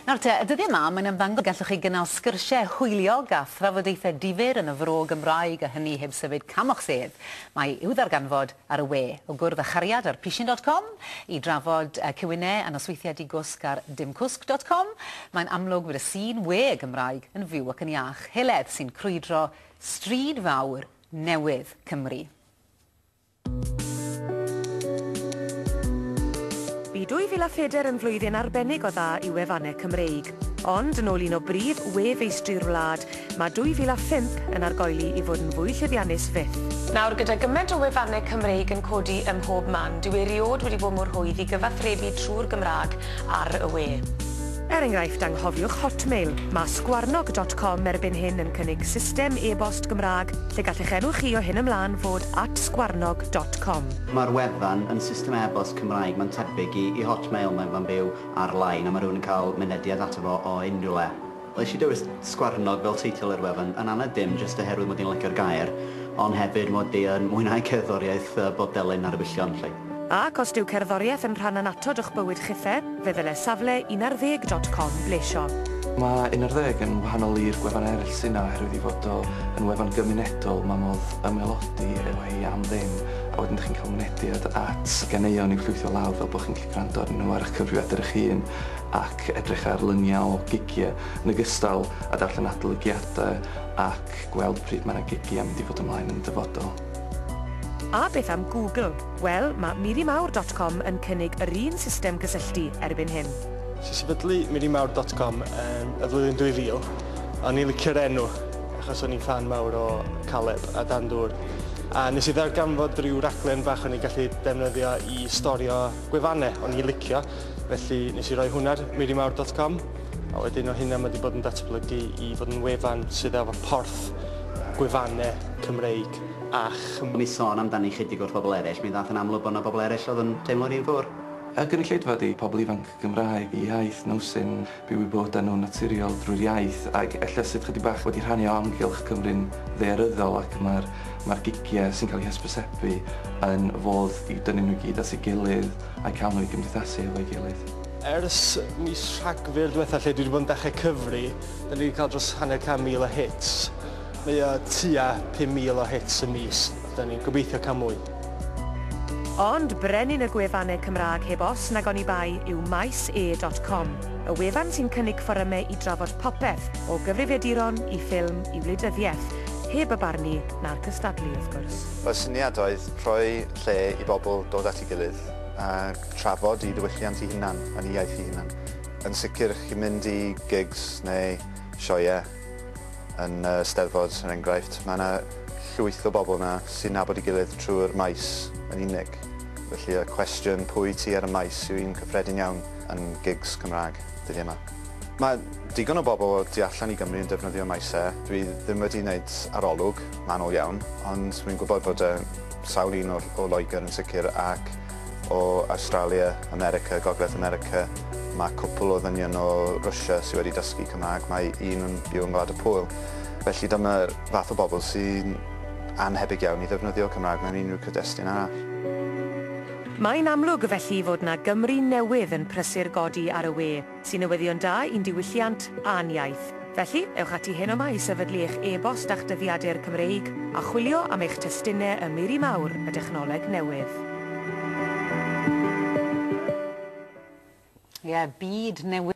Nawr te, y dyddiau 'ma, mae'n ymddangos y gallwch chi gynnal sgyrsiau hwyliog a thrafodaethau difyr yn y Fro Gymraeg, a hynny heb symud cam o'ch sedd. Mae i'w ddarganfod ar y we, o gwrdd â chariad ar pishyn dot com i drafod cywinnau a nosweithiau di-gwsg ar dimcwsg dot com. Mae'n amlwg fod y sîn we Gymraeg yn fyw ac yn iach, heledd sy'n crwydro stryd fawr newydd Cymru. Bu 2004 yn flwyddyn arbennig o dda i wefannau Cymreig. Ond, yn ôl un o brif we-feistri'r wlad, mae 2005 yn argoeli i fod yn fwy llwyddiannus fyth. Nawr, gyda gymaint o wefannau Cymreig yn codi ym mhob man, dyw erioed wedi bod mor hwydd i gyfathrebu trwy'r Gymraeg ar y we. Er enghraifft, anghofiwch Hotmail. Mae sgwarnog dot com erbyn hyn yn cynnig system e-bost Gymraeg lle gall eich enw chi o hyn ymlaen fod at sgwarnog dot com. Mae'r wefan yn system e-bost Cymraeg, mae'n tebyg i i Hotmail, mae'n fan byw ar-lein a mae rhywun yn cael mynediad ato fo o unrhyw le. Wnes i dewis sgwarnog fel teitl i'r wefan, yn anad dim jyst oherwydd mod i'n licio'r gair, ond hefyd mod i yn mwynhau cerddoriaeth bod delyn ar y gwyllion 'lly. Ac os dyw cerddoriaeth yn rhan annatod o'ch bywyd chithe, fe ddyle safle unarddeg dot com blesio. Mae unarddeg yn wahanol i'r gwefan eraill sy' 'na oherwydd ei fod o yn wefan gymunedol, mae modd ymaelodi efo hi am ddim, a wedyn dych chi'n cael mynediad at ganeuon i'w llwytho lawr fel bod chi'n gallu gwrando arnyn nhw ar eich cyfrifiadur eich hun ac edrych ar luniau o gigiau yn ogystal â darllen adolygiadau ac gweld pryd mae 'na gigiau mynd i fod ymlaen yn y dyfodol. A beth am Google? Wel, mae mirimawr dot com yn cynnig yr un system cysylltu erbyn hyn. Nes i sefydlu mirimawr dot com yn y flwyddyn 2000, a o'n i'n licio'r enw achos o'n i'n ffan mawr o Caleb a Dan Dŵr, a nes i ddarganfod ryw raglen bach o'n i'n gallu defnyddio i storio gwefannau o'n i'n licio, felly nes i roi hwnna ar mirimawr dot com. A wedyn o hynna mae wedi bod yn datblygu i fod yn wefan sydd efo porth gwefannau Cymreig a Chymraeg. Mi son amdani chydig wrth bobl eraill, mi ddaeth yn amlwg bod 'na bobl eraill oedd yn teimlo'r un ffwr. Y gynulleidfa ydi pobl ifanc Gymraeg, eu hiaith nhw sy'n byw eu bywydau nhw'n naturiol drwy'r iaith ac ella sydd chydig bach wedi rhannu o amgylch Cymru'n ddaearyddol ac mae'r mae'r gigiau sy'n cael eu hysbysebu yn fodd i dynnu nhw i gyd at ei gilydd a'u cael nhw i gymdeithasu hefo'i gilydd. Ers mis Rhagfyr diwetha lle dwi wedi bod yn dechrau cyfri, da ni wedi cael dros hanner can mil o hits. Mae o tua 5,000 o hits y mis, da ni'n gobeithio cael mwy. Ond brenin y gwefannau Cymraeg heb os nag oni bai yw Maes-E dot Com, y wefan sy'n cynnig fforymau i drafod popeth, o gyfrifiaduron i ffilm i wleidyddiaeth, heb y barnu na'r cystadlu, wrth gwrs. Y syniad oedd rhoi lle i bobl dod at ei gilydd a trafod ei diwylliant ei hunan yn ei iaith ei hunan. Yn sicr, chi'n mynd i gigs neu sioeau yn y Steddfod, er enghraifft, mae yna llwyth o bobl yna sy'n nabod ei gilydd trwy'r maes yn unig. Felly y cwestiwn 'pwy ti ar y maes' yw un cyffredin iawn yn gigs Cymraeg dyddiau yma. Mae digon o bobl o tu allan i Gymru yn defnyddio maesau. Dwi ddim wedi wneud arolwg manwl iawn, ond wi'n gwybod bod 'na sawl un o Loegr yn sicr ac o Awstralia, America, Gogledd America, mae cwpl o ddynion o Rwsia sydd wedi dysgu Cymraeg, mae un yn byw yn Gwlad y Pwyl. Felly dyma'r fath o bobl sy'n annhebyg iawn i ddefnyddio Cymraeg mewn unrhyw cyd-destun arall. Mae'n amlwg felly fod 'na Gymru newydd yn prysur godi ar y we. Sy'n newyddion da i'n diwylliant a'n iaith. Felly, ewch ati heno 'ma i sefydlu eich e-bost a'ch dyddiadur Cymreig a chwilio am eich testunau ym miri mawr y dechnoleg newydd. Ie, byd newydd.